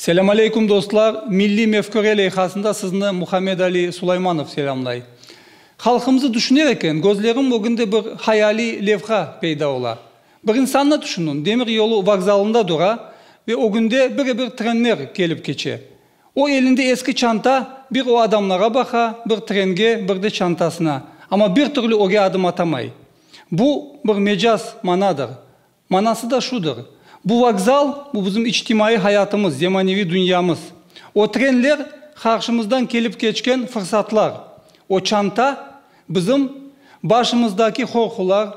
Selâm aleyküm dostlar! Milliy mefküre leyhasında sizni Muhammed Ali Sulaymanov selâmlay. Halqımızı tüşüner eken, közlerim ögünde bir hayaliy levha peyda ola. Bir insannı tüşüniñ, demiryolu vokzalında tura ve ögünde bire-bir trenler kelip keçe. O elinde eski çanta, bir o adamlara baqa, bir trenge, bir de çantasına. Amma bir türlü öge adım atamay. Bu, bir mecaz manadır. Manası da şudır, bu vokzal, bu bizim içtimaiy hayatımız, zemaneviy dünyamız. O trenler, qarşımızdan kelip keçken fırsatlar. O çanta, bizim başımızdaki qorqular,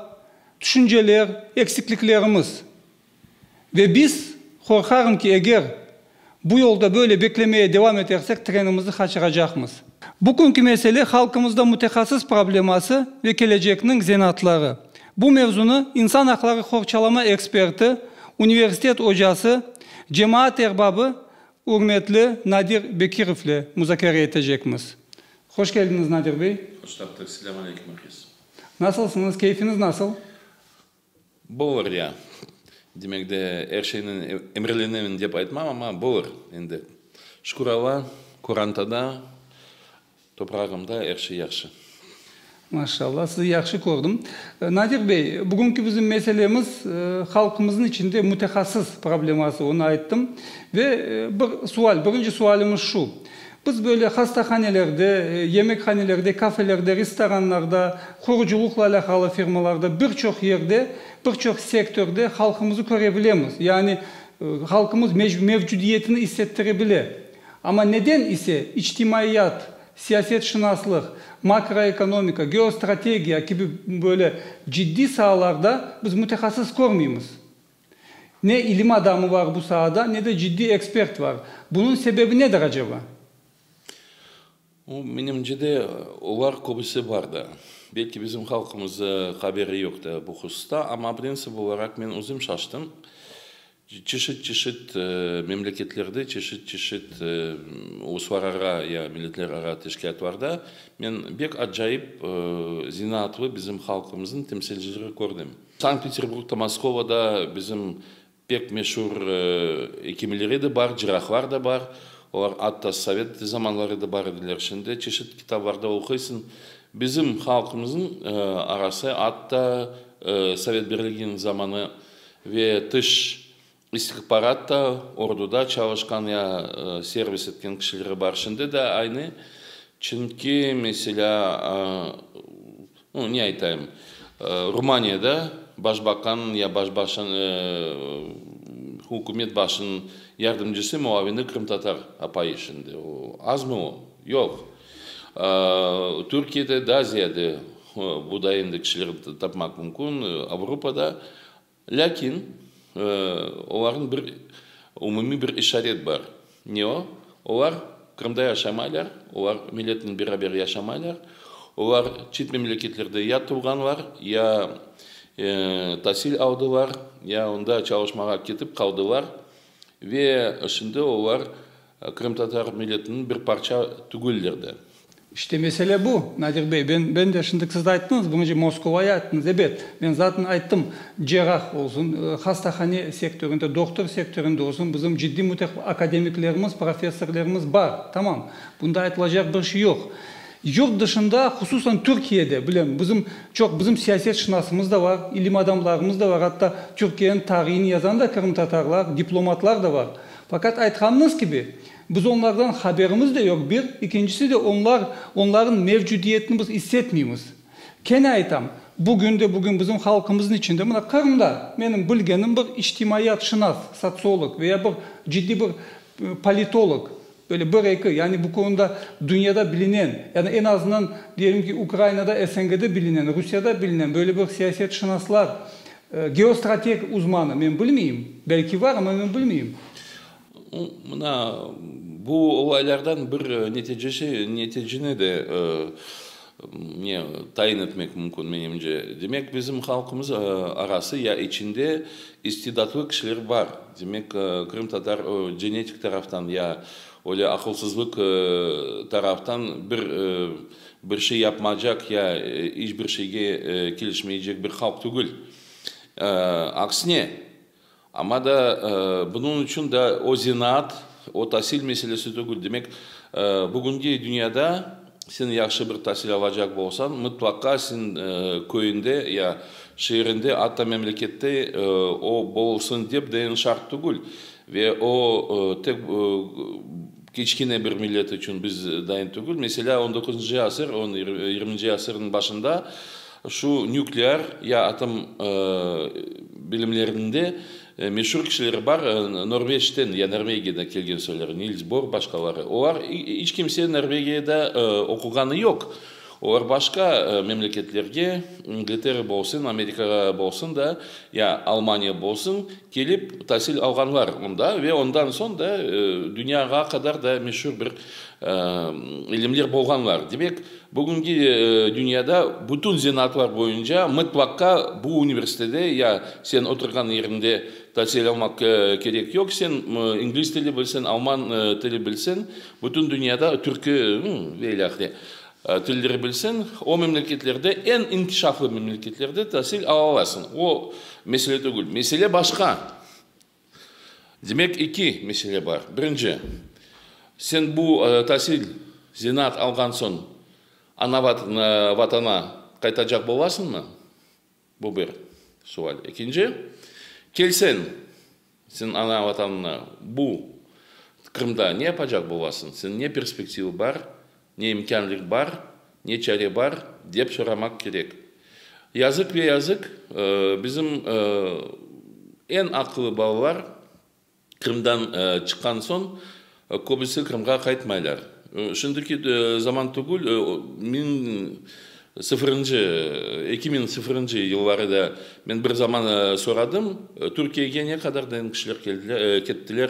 tüşünceler, eksikliklerimiz. Ve biz qorqağım ki, eger bu yolda böyle beklemeye devam etersek, trenimizni qaçıracaqmız. Bugünki mesele, halqımızda mütehassıs probleması ve kelecekniñ zenaatları. Bu mevzunı insan aqları qorçalama eksperti, universitet ocası, cemaat erbabı ürmetli Nadir Bekirovle muzakere etecekmiz. Hoş keldiñiz, Nadir bey! Hoş taptık. Selâm aleykum, Afiz! Nasılsıñız, keyfiniz nasıl? Bolar ya. Demek de, er şeyni emrelenemen dep aytmam, amma bolar endi. Şükür Alla, qorantada, toprağımda er şey yahşı. Maşallah, sizi yahşı kördim. Nadir bey, bugünki bizim meselemiz, halqımıznıñ içinde mütehassıs probleması, onı ayttım. Ve bir sual, birinci sualimiz şu. Biz böyle hastahanelerde, yemekhanelerde, kafelerde, restoranlarda, qurucılıqla alâqalı firmalarda, bir çoq yerde, bir çoq sektörde halqımızı köre bilemiz. Yani halqımız mevcudiyetini issettire bile. Amma neden ise içtimaiyat, siyasetşınaslıq, makroekonomika, geostrategiya kibi böyle ciddiy saalarda biz mütehassıs körmeymiz? Ne ilim adamı var bu saada, ne de ciddiy ekspert var. Bunıñ sebebi nedir aceba? Menimce de, olar köbüsi bar da. Belki bizim halqımız haberi yoq da bu hususta, amma prensip olaraq men özüm şaştım. Çeşit-çeşit memleketlerde, çeşit-çeşit uluslarara ya milletlerara teşkilâtlarda men bek acayip zenaatlı bizim halqımıznıñ temsilcileri kördim. Sankt-Peterburgda, Moskovada bizim pek meşur ekimler edi, bar, cirahlar da bar. Olar atta sovet zamanları da bar ediler. Şimdi çeşit kitaplarda oquysıñ, bizim halqımızıñ arası atta Sovet Birliginiñ zamanı ve tış İstihbaratta, orduda çalışqan ya servis etken kişileri bar, şimdi de aynı. Çünki, meselâ, ne aytayım, Rumaniyada başbakan ya başbaşın, ükümet başınıñ yardımcısı, muavini qırımtatar apayı şimdi. Azmı o? Yoq. Türkiyede daa ziyade buday endi kişiler tapmaq mümkün, Avrupada. Lâkin olarnıñ bir umumiy bir işaret bar. Ne o? Olar Qırımda yaşamaylar, olar milletnen beraber yaşamaylar, olar çet memleketlerde ya tuvğanlar, ya tasil aldılar, ya onda çalışmağa ketip qaldılar ve şimdi olar Qırımtatar milletiniñ bir parça tügüller de. İşte mesele bu, Nadir bey. Ben, ben de, şındık siz ayttınız, birinci Moskovayı ayttınız. Ebet, ben zaten ayttım, cerrah olsun, hastahane sektörinde, doktor sektörinde olsun, bizim ciddiy müteq, akademiklerimiz, professorlerimiz bar. Tamam, bunda aytılacaq bir şey yoq. Yurt dışında, hususan Türkiyede, bilem, bizim, çoq bizim siyasetşınasımız da bar, ilim adamlarımız da bar, atta Türkiyeniñ tarihini yazan da qırımtatarlar, diplomatlar da bar. Faqat aytqanıñız kibi, biz onlardan haberimiz de yoq, bir, ikincisi de onlar, onların mevcudiyetini biz is etmeymiz. Kene aytam, bugün de bugün bizim halqımızın içinde, mına Qırımda, menim bilgenim bir içtimaiyat şınas, sotsiolog ve ya bir ciddi bir politolog, böyle bir eki, yani bu konuda dünyada bilinen, ya da en azından diyelim ki Ukrainada, SNG'de bilinen, Rusiyada bilinen böyle bir siyasetşınaslar Geostrateg uzmanı, men bilmeyim. Belki var, amma men bilmeyim. Mına bu olaylardan bir neticesi, neticeni de ne tayin etmek mümkün, menimce. Demek, bizim halqımız arası ya içinde istidatlı kişiler bar. Demek, qırımtatar genetik taraftan ya öyle aqılsızlıq taraftan bir Bir şey yapmacaq ya iç bir şeyge kelişmeycek bir halq tügül. Aksine. Amma da bunıñ içün da o zenaat, o tasil meselesi tügül. Demek, bugünki dünyada sen yahşı bir tasil alacaq bolsañ, mıtlaqa sen köyünde ya şeerinde, atta memlekette o bolsıñ dep dayan şart tügül. Ve o, tek kiçkine bir millet içün biz dayın tügül. Meselâ, on dokuzıncı asır, on yirminci asırnıñ başında şu nüklear ya atom bilimlerinde meşur kişiler bar, Norveçten ya Norvegiyeden kelgen soyları, Nils Bor, başqaları. Olar, iç kimse Norvegiyada oquğanı yoq. Olar başqa memleketlerge, İngiltere bolsun, Amerikağa bolsun da, ya Almaniya bolsun, Kelip tasil alğanlar mında ve ondan soñ da dünyağa qadar da meşur bir ilimler bolğanlar. Demek, bugünki dünyada bütün zenaatlar boyunca mıtlaqqa bu universitede ya sen oturğan yeriñde tasil almaq kerek yoq, sen ingliz tili bilsen, alman tili bilsen, bütün dünyada, türkü ve ilâhre, Tildirebilsen, o memleketlerde, eñ inkişaflı memleketlerde tasil alalasıñ. O mesele tügül. Mesele başqa. Demek, eki mesele bar. Birinci, sen bu tasil, zenaat alğan soñ ana Vatana qaytacaq bolasıñmı? Bu bir sual. Ekinci, kelseñ señ ana Vatanına, bu Qırımda ne yapacaq bolasıñ, señ ne perspektiva bar, ne imkânlıq bar, ne çare bar, dep soramaq kerek. Yazıq ve yazıq bizim eñ aqıllı balalar, Qırımdan çıqqan soñ köbüsi Qırımğa qaytmaylar. Şimdiki zaman tügül, miñ sıfırıncı, eki miñ sıfırıncı yılları da men bir zaman soradım, Türkiyege ne qadar degen kişiler kettiler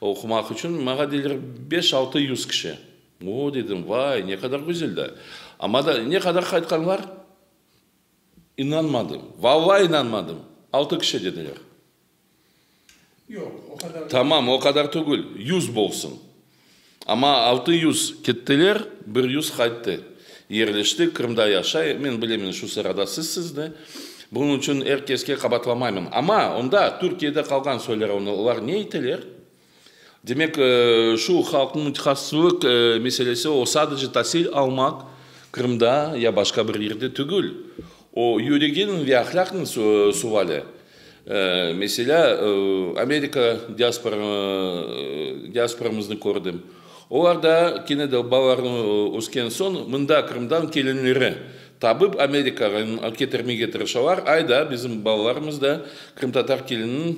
oqumaq içün. Maña deyler, beş, altı yüz kişi. O, dedim, vay, ne qadar güzel da. Amma da ne qadar qaytqanlar? İnanmadım, vallahi inanmadım, altı kişi dediler. Tamam, o qadar tügül, yüz bolsun. Amma altı yüz kettiler, bir yüz qayttı. Yerleşti, Qırımda yaşay. Men bilemen, şu sırada sizsiz de. Bunıñ içün er keske qabatlamaymın. Amma onda Türkiyede qalğan söyler, olar ne eteler? Demek, şu halqnıñ mütehassıslık meselesi, o, sadece tasil almaq Qırımda ya başqa bir yerde tügül, o, yüreginiñ ve ahlâqnıñ suvali. Meselâ, Amerika diasporamıznı kördim. Olar da kene de balalarını ösken soñ mında Qırımdan kelinleri tabıp Amerikağa ketirmege tırışalar, ay da bizim balalarımız da qırımtatar kelininiñ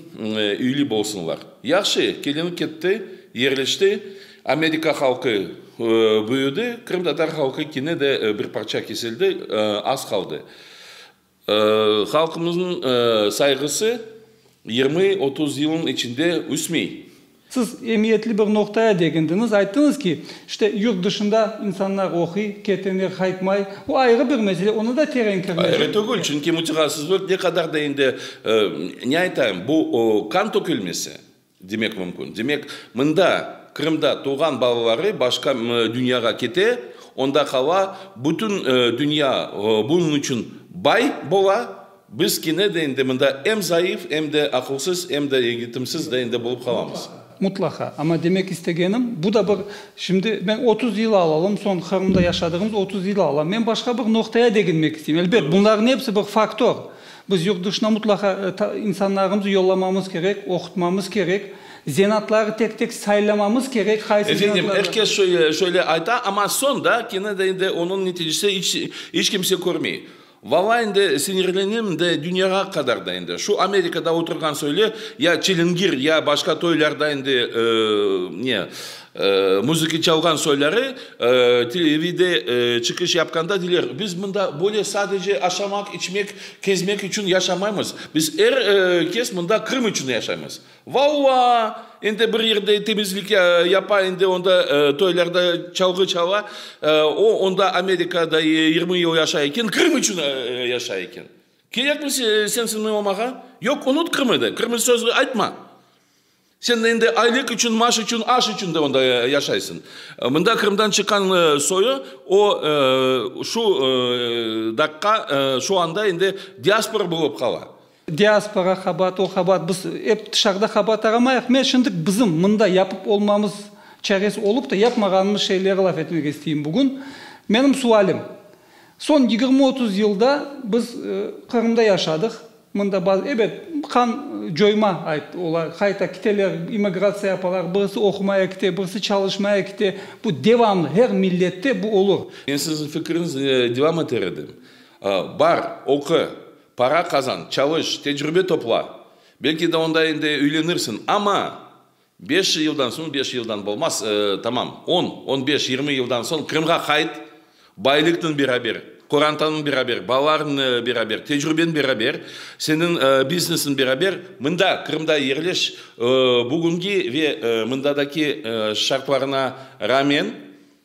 üyli bolsunlar. Yahşı, kelini ketti, yerleşti, Amerika halqı büyüdi, qırımtatar halqı kene de bir parça kesildi, az qaldı. Halqımıznıñ sayğısı yirmi, otuz yılnıñ içinde üsmey. Siz emiyetli bir noqtaya degindiñiz, ayttıñız ki, işte, yurt dışında insanlar oquy, ketenler qaytmay. O ayrı bir mesele, oña da teren kirmesek. Ayrı tügül, çünki mütehassıslar ne qadar da endi, ne aytayım, bu, qan tökülmesi. Demek mümkün. Demek, mında, Qırımda tuvğan balaları başqa dünyağa kete, onda qala, bütün dünya bunıñ içün bay bola, biz kene de endi mında em zayıf, em de aqılsız, em de egitimsiz de endi bolıp qalamız. Mutlaqa. Amma demek istegenim, bu da bir, şimdi men otuz yılı alalım, soñ Qırımda yaşadığımız otuz yılı alam, men başqa bir noqtaya deginmek isteyim. Elbet, bunların episi bir faktor. Biz yurt dışına mutlaqa insanlarımızı yollamamız kerek, oqutmamız kerek, zenaatları tek-tek saylamamız kerek, qaysı zenaatlardan. Efendim, er kes şöyle ayta, amma soñ da kene de endi onıñ neticesi iç kimse körmey. Valay endi sinirlenem de dünyağa qadar da endi. Şu Amerikada oturğan söyle, ya çilingir, ya başqa toylarda endi ne. Muzıki çalğan soyları TVde çıqış yapqanda deyler, biz mında böyle sadece aşamaq, içmek, kezmek içün yaşamaymız, biz er kes mında Qırım içün yaşaymız. Valla! Endi bir yerde temizlik yapa, endi onda toylarda çalğı çala, o onda Amerikada yirmi yıl yaşay eken, Qırım içün yaşay eken. Kerekmi sensin omağa? Yoq, unut Qırımı de, Qırımı sözü aytma! Sen endi aylık içün, maaş içün, aş içün de onda yaşaysıñ. Mında Qırımdan çıqqan soyu, o, şu daqqa, şu anda endi diaspora bolıp qala. Diaspora qabaat, o qabaat, biz ep tışarıda qabaat aramayıq. Men şimdik bizim mında yapıp olmamız çaresi olıp da yapmağanımız şeyleri laf etmek isteyim bugün. Menim sualim. Soñ yigirmi-otuz yılda biz Qırımda yaşadıq. Mında bazı, ebet, qan coyma, ayt, olar qayta kiteler, immigratsiya yapalar, birisi oqumaya kite, birisi çalışmaya kite. Bu devamlı, her millette bu olur. Men siziñ fikiriñizni devam eter edim. Bar, oqu, para qazan, çalış, tecrübe topla. Belki de onda endi üylenirsiñ. Amma Beş yıldan soñ, beş yıldan bolmaz, tamam, on, on beş, yirmi yıldan soñ Qırımğa qayt, baylıqnen beraber, qorantanen beraber, balalarnen beraber, tecrübenen beraber, seniñ biznesnen beraber mında, Qırımda yerleş. Bugüngi ve mındadaki şartlarına rağmen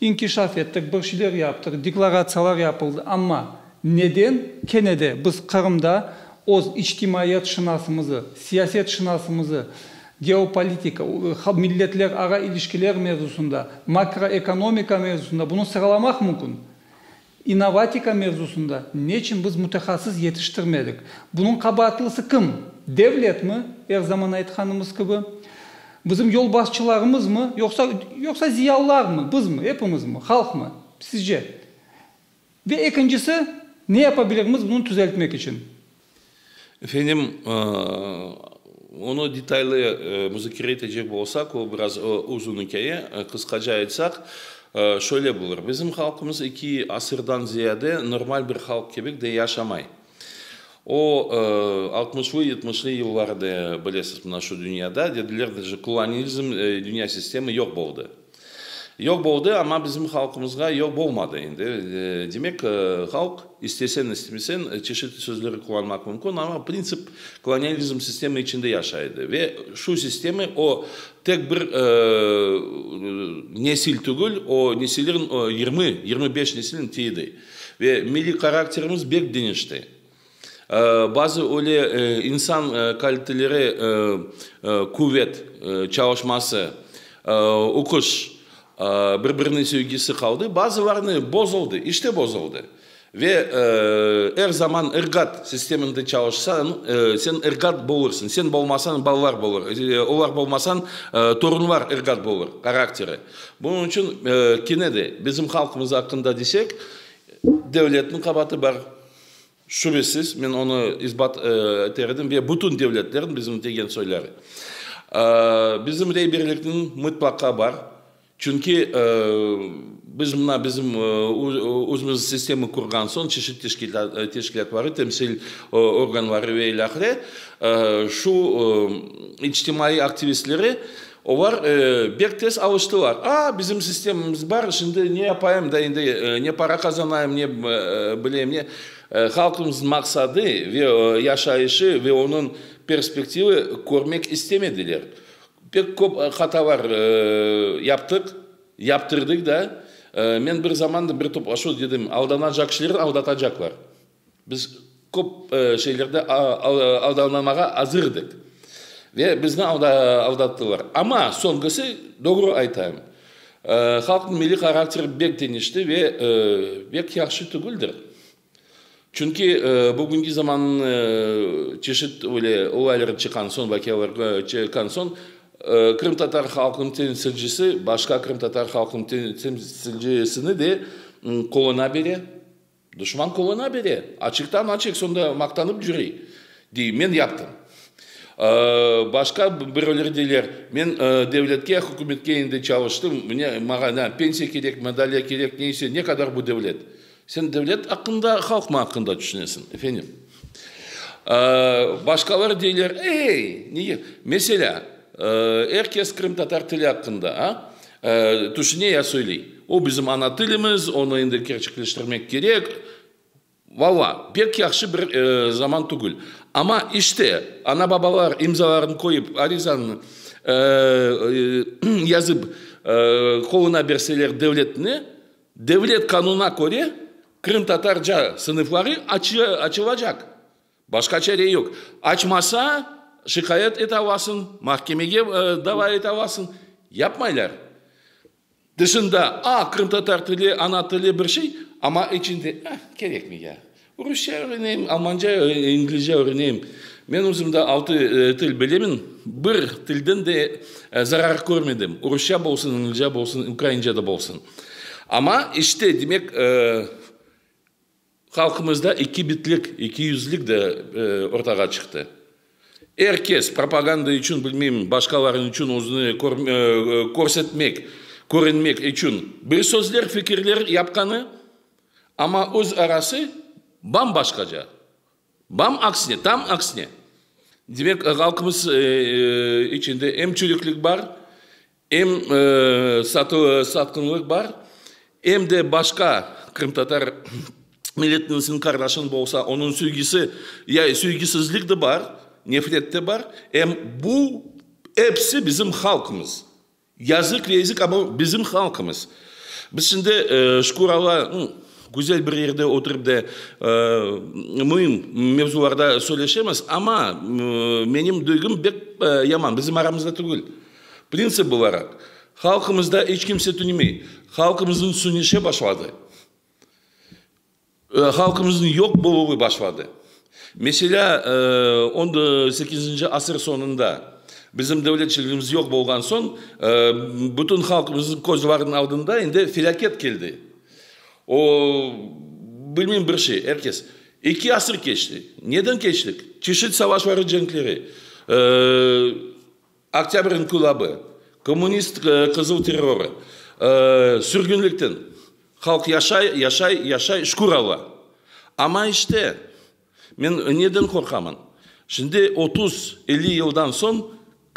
İnkişaf ettik, bir şeyler yaptıq, deklaratsiyalar yapıldı, amma neden kene de biz Qırımda öz içtimaiyat şınasımızı, siyaset şınasımızı, geopolitika, milletlerara ilişkiler mevzusında, makroekonomika mevzusında bunı sıralamaq mümkün. İnnovatika mevzusında neçün biz mütehassıs yetiştirmedik? Bunıñ qabaatlısı kim? Devletmi, er zaman aytqanımız kibi? Bizim yolbaşçılarımızmı, yoqsa, yoqsa ziyalılarmı, bizmi, epimizmi, halqmı, sizce? Ve ekincisi, ne yapabilirmiz bunı tüzeltmek içün? Efendim, onı detaylı muzakere etecek bolsaq, o biraz uzun ikâye. Qısqaca aytsaq, şöyle bulır, bizim halqımız eki asırdan ziyade normal bir halq kibik de yaşamay. O, altmışlı, yetmişli yıllarda, bilesiz, mına şu dünyada, dediler, kolonizm, dünya sistemi yoq boldı. Yoq boldı, amma bizim halqımızğa yoq bolmadı endi. Demek, halq, istesen, istemesen, çeşitli sözleri qullanmaq mümkün, amma printsip kolonializm sistemi içinde yaşay edi. Ve şu sistemi o tek bir nesil tügül, o nesillerniñ yirmi, yirmi beş nesilniñ tiyidi. Ve milliy karakterimiz bek deñişti. Bazı öyle insan kaliteleri, quvet, çalışması, uquş, bir-birine sevgisi qaldı, bazılarını bozuldı, işte bozuldı. Ve er zaman ırgat sisteminde çalışsan, sen ırgat bolursıñ, sen bolmasañ, balalar bolur, olar bolmasañ, torunlar ırgat bolur, qarakteri. Bunıñ içün kene de bizim halqımız aqqında desek, devletniñ qabaatı bar. Şübesiz, men onı isbat eter edim, ve bütün devletlerniñ bizim degen soyları. Bizim reyberlikniñ mıtlaqa bar, çünki biz mına bizim özümüz sistemi qurğan soñ, çeşit teşkilâtları, temsil organları ve ilâhre, şu içtimaiy aktivistleri Olar bek tez alıştılar. A, bizim sistemamız bar, şimdi ne yapayım da endi, ne para qazanayım, ne bileyim ne. Halqımıznıñ maqsadı ve yaşayışı ve onıñ perspektivi körmek istemediler. Pek köp hatalar yaptıq, yaptırdık da. Men bir zaman da bir toplaşuvda dedim, aldanacaqşiler aldatacaqlar. Biz köp şeylerde aldanılmağa azırdık ve bizni aldattılar. Amma soñusı, doğru aytayım, halqnıñ milliy harakteri bek deñişti ve bek yahşı tügüldir. Çünki bugünki zamannıñ çeşit öyle olayları çıqqan soñ, vaqialar çıqqan soñ, qırımtatar halqınıñ temsilcisi başqa qırımtatar halqınıñ temsilcisini de qoluna bere. Duşman qoluna bere, açıqtan-açıq sonda maqtanıp cüre, dey, men yaptım. Başqa biröleri deyler, men devletke, hükümetke endi çalıştım, mine, maña ne pensiya kerek, madalya kerek, neyse, ne qadar bu devlet? Sen devlet aqqında, halqmı aqqında tüşünesiñ, efendim? Başqaları deyler, ey, nege? Meselâ, er kes qırımtatar tili aqqında tüşüne ya söyley. O, bizim ana tilimiz, onı endi kerçekleştirmek kerek. Valla, pek yahşı bir zaman tügül. Amma işte, ana-babalar imzalarını qoyıp, arizanı yazıp qoluna berseler devletne, Devlet qanunına köre, qırımtatarca sınıfları açılacaq. Başqa çare yoq. Açmasa, şikâyet ete alasıñ, mahkemege dava ete alasıñ. Yapmaylar. Tışında, a, qırımtatar tili, ana tili bir şey, amma içinde, eh, kerekmi ya? Rusça öğreneyim, almanca, inglizce öğreneyim. Men özüm de altı til bilemen, bir tilden de zarar körmedim, rusça bolsun, inglizce bolsun, ukraince de bolsun. Amma işte, demek, halqımızda ikibitlik, ikiyüzlik de ortağa çıqtı. Er kes propaganda içün, bilmeyim, başqalarnıñ içün özüni körsetmek, körünmek içün bir sözler, fikirler yapqanı, Amma öz arası bam-başqaca. Bam aksine, tam aksine. Demek, halqımız içinde em çürüklik bar, em satqınlıq bar, em de başqa qırımtatar milletlinisiniñ qardaşıñ bolsa, onıñ sövgisi, ya sövgisizlik de bar, nefret de bar. Em bu, episi bizim halqımız. Yazıq yazıq ama bizim halqımız. Biz şimdi şükür Alla güzel bir yerde oturıp da müim mevzularda söyleşemiz ama menim duygum bek yaman bizim aramızda tügül. Printsip olaraq halqımızda iç kimse tünümey. Halqımızın sünüşe başladı. Halqımıznıñ yoq boluvı başladı. Meselâ, on sekizinci asır soñunda bizim devletçiligimiz yoq bolğan soñ, bütün halqımıznıñ közleriniñ aldında endi felâket keldi. O, bilmeyim, bir şey, er kes. Eki asır keçti. Neden keçtik? Çeşit savaşları, cenkleri. Oktâbr inqilabı, kommunist qızıl terrorı, sürgünlikten halq yaşay, yaşay, yaşay, şükür Alla. Amma işte, men neden qorqaman, şimdi otuz, elli yıldan soñ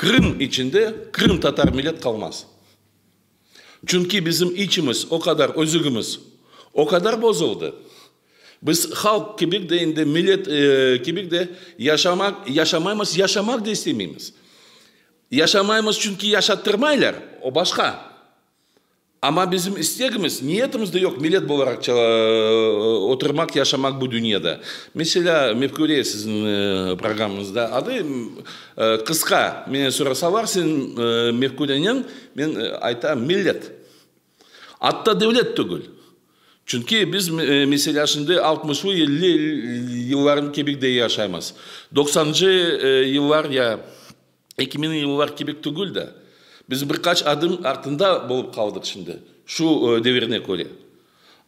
Qırım içinde qırımtatar millet qalmaz. Çünki bizim içimiz o qadar, özügimiz o qadar bozuldı, biz halq kibik de, indi millet kibik de yaşamaq, yaşamaymız, yaşamaq da istemeymiz. Yaşamaymız, çünki yaşattırmaylar, o başqa. Amma bizim istegimiz, niyetimiz de yoq millet bolaraq oturmaq, yaşamaq bu dünyada. Meselâ, Mefküre siziñ programıñızda adı qısqa, menen sorasalar, sen Mefküreniñ, Men aytam, millet, atta devlet tügül. Çünki biz meselâ şimdi altmışlı yıllarnıñ kibik de yaşaymız. Doqsancı yıllar ya eki miñi yıllar kibik tügül de. Biz bir qaç adım artında bolıp qaldıq şimdi, şu devirine köre.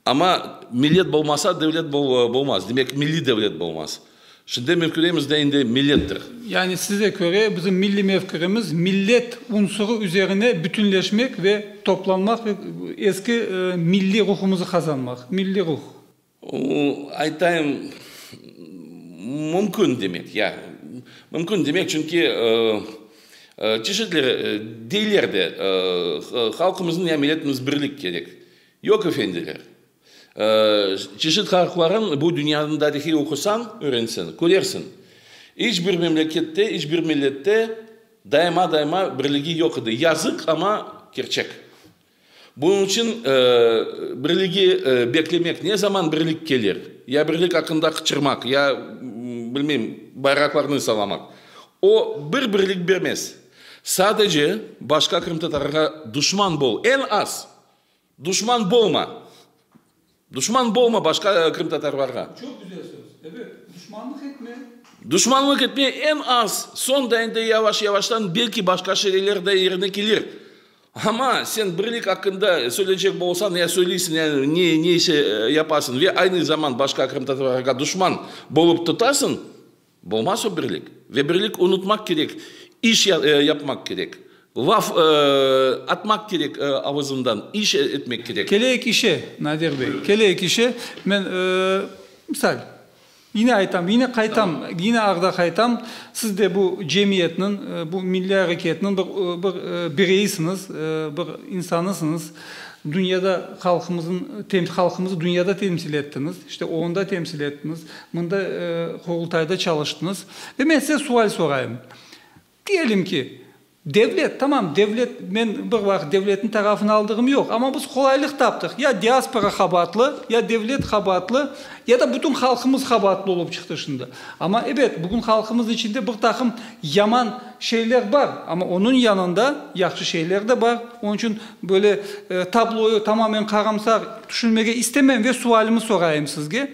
Amma millet bolmasa, devlet bolmaz. Demek, milliy devlet bolmaz. Şimdi mefküremiz de indi millettir. Yani size köre bizim milliy mefküremiz millet unsurı üzerine bütünleşmek ve toplanmaq ve eski milliy ruhumızı qazanmaq. Milliy ruh. Aytayım, mümkün demek, ya. Mümkün demek, çünki çeşitli deyler de halqımızın ya milletimiz birlik kerek. Yoq, efendiler. Çeşit harflarıñ bu dünyanıñ tarihi oqusañ, öğrenseñ, körersiñ. İç bir memlekette, iç bir millette daima-daima birligi yoq edi. Yazıq, amma kerçek. Bunıñ içün birligi beklemek, ne zaman birlik kelir, ya birlik aqqında qıçırmaq, ya, bilmeyim, bayraqlarnı sallamaq, o bir birlik bermez. Sadece başqa qırımtatarğa duşman bol, eñ az Duşman bolma! Duşman bolma başqa qırımtatarlarğa! Çoq güzel söz. Evet, duşmanlıq etme! Duşmanlıq etme, eñ az, soñ da endi yavaş-yavaştan belki başqa şeyler de yerine kelir. Amma sen birlik aqqında söyleycek bolsañ ya söyleysiñ ya neyse yapasıñ ve aynı zaman başqa qırımtatarlarğa duşman bolıp tutasıñ, Bolmaz o birlik. Ve birlik unutmaq kerek, iş yapmaq kerek. Laf atmaq kerek avuzından, iş etmek kerek. Keleyik işe, Nadir bey, keleyik işe. Men, misal, yine aytam, yine qaytam, yine arda qaytam, siz de bu cemiyetniñ, bu milliy areketniñ bir, bir bireyisiñiz, bir insanısıñız. Dünyada halqımıznıñ, halqımızı dünyada temsil ettiñiz, işte onda temsil ettiñiz. Mında Qurultayda çalıştıñız. Ve men size sual sorayım. Diyelim ki, devlet, tamam, devlet, men bir vaqıt devletniñ tarafını aldığım yoq, amma biz qolaylıq taptıq, ya diaspora qabaatlı, ya devlet qabaatlı, ya da bütün halqımız qabaatlı olıp çıqtı şimdi. Amma ebet, bugün halqımız içinde bir taqım yaman şeyler bar, amma onıñ yanında yahşı şeyler de bar. Onıñ içün böyle tabloyı tamamen qaramsar tüşünmege istemem ve sualımı sorayım sizge.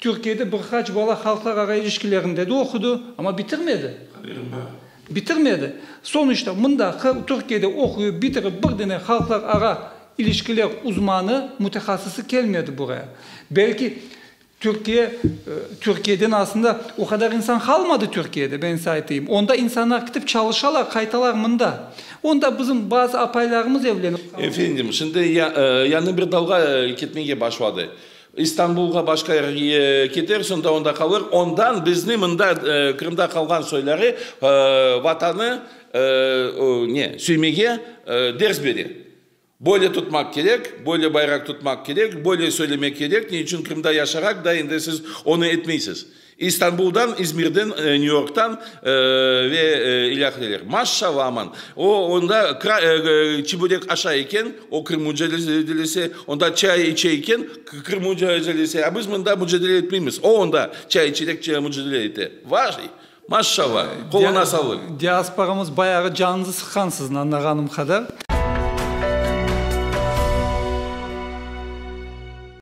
Türkiyede bir qaç bala halqlarara ilişkilerinde de oqudı, amma bitirmedi. Haberim bar. Bitirmedi. Soñuşta mındaqı Türkiyede oquyıp bitirip bir dene halqlarara ilişkiler uzmanı, mütehassısı kelmedi buraya. Belki Türkiye, Türkiyeden aslında o qadar insan qalmadı Türkiyede, ben size aytayım. Onda insanlar kitip çalışalar, qaytalar mında. Onda bizim bazı apaylarımız evlenip qaldı. Efendim, şimdi ya, yañı bir dalğa ketmege başladı. İstanbulğa başqa yerge keter, sonda onda qalır, ondan bizni mında Qırımda qalğan soyları Vatanı ne söymege ders bere. Böyle tutmaq kerek, böyle bayraq tutmaq kerek, böyle söylemek kerek, ne içün Qırımda yaşaraq da endi siz onı etmeysiz. İstanbuldan, İzmirden, New Yorktan ve ilâhreler. Maşşalâ aman! O, onda çibürek aşa eken, o Qırım mücadelesi, onda çay içe eken, Qırım mücadelesi, a biz mında mücadele etmeymiz, o onda çay içerek mücadele ete. Vay! Maşşalâ! Qoluna sağlıq! Diasporamız bayağı canınızı sıqqan siziñ, añlağanım qadar.